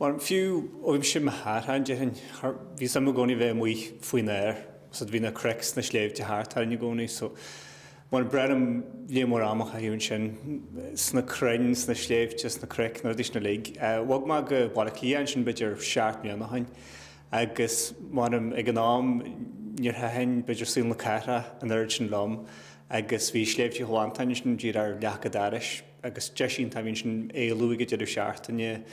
Mar fiú uaimse mo thaithí, déarfainn, bhí suim i gcónaí bheith amuigh faoin aer. Bhí na cnoic is na sléibhte thart orainn i gcónaí so ba bhreá liom léar mór ama a chaitheamh ansin, sna crainn, sna sléibhte, sna cnoic, na rudaí sin uilig. Bhog mé go Baile Átha Cliath ansin b'fhéidir seacht mbliana ó shin agus m'anam ag an am níor thaitin b'fhéidir saol na cathrach an oiread sin liom agus bhí Sléibhte Chill Mhantáin ansin díreach ar leac an dorais. agus deis iontach a bhí ansin éalú ag an deireadh seachtaine,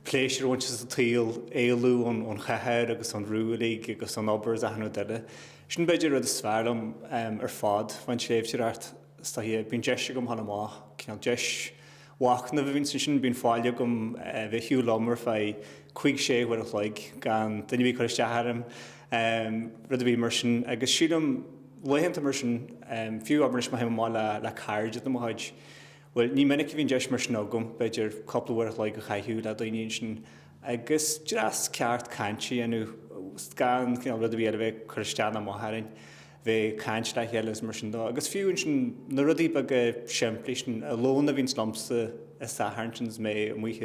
pléisiúr a bhaint as an tsaol, éalú ón chathair agus ón bhrú uilig agus ón obair agus achan rud eile. Sin b'fhéidir an rud is fearr liom ar fad faoin tsléibhteoireacht, is dóiche, bíonn deis agam dhul amach, cineál deis mhachnaimh a bhíonns ansin, bíonn faill agam bheith ag siúl liom ar feadh cuig, sé huaire a chloig gan duine a bheith ag cur isteach orm, rud ar bith mar sin agus sílim, laethanta mar sin, fiú abair anois má théim amach le cairde de mo chuid, bhuel, ní minic a bhíonn deis mar sin agam, b'fhéidir cúpla uair a chloig a chaitheamh le daoine ansin agus dreas ceart cainte a dhéanamh, gan cineál rud ar bith eile a bheith ag cur isteach ná amach orainn, bheith caint le chéile agus mar sin de. Agus fiú ansin, na rudaí beaga simplí sin, an lón a bhíonns liomsa an Satharn sin is mé amuigh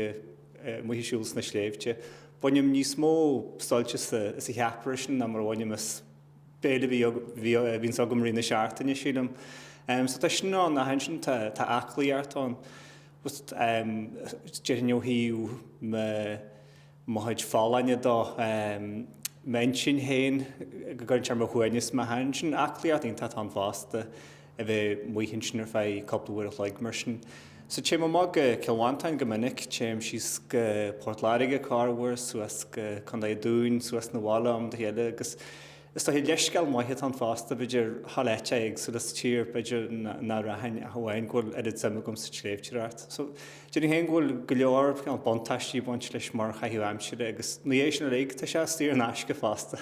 ag siúl sna sléibhte, bainim níos mó suilt as an cheapaire sin ná mar a bhainim as, Béile ar bith a bhíonns agam i rith na seachtaine sílim. So tá sin ann ach ansin tá tá aclaíocht ann. Just ehm déarfainn ó thaobh mo mo chuid folláine de ehm m'intinn féin go gcuireann sé ar mo shuaimhneas má théann sin aclaí art iontach ann fosta. a bheith amuigh ansin ar feadh cúpla uair a chloig mar sin. So téim amach go Cill Mhantáin go minic, téim síos go Port Láirge corruair, suas go Contae an Dúin, suas 'na bhaile ó am go chéile agus is dóiche leithscéal maith atá ann fosta, b'fhéidir dhul áiteacha éagsúla sa tír, b'fhéidir nach rachainn ach amháin go bhfuil oiread suim agam sa tsléibhteoireacht. So déarfainn féin go bhfuil go leor buntáistí ag baint leis mar chaitheamh aimsire agus ina dhiaidh sin uilig tá sé saor in aisce fosta.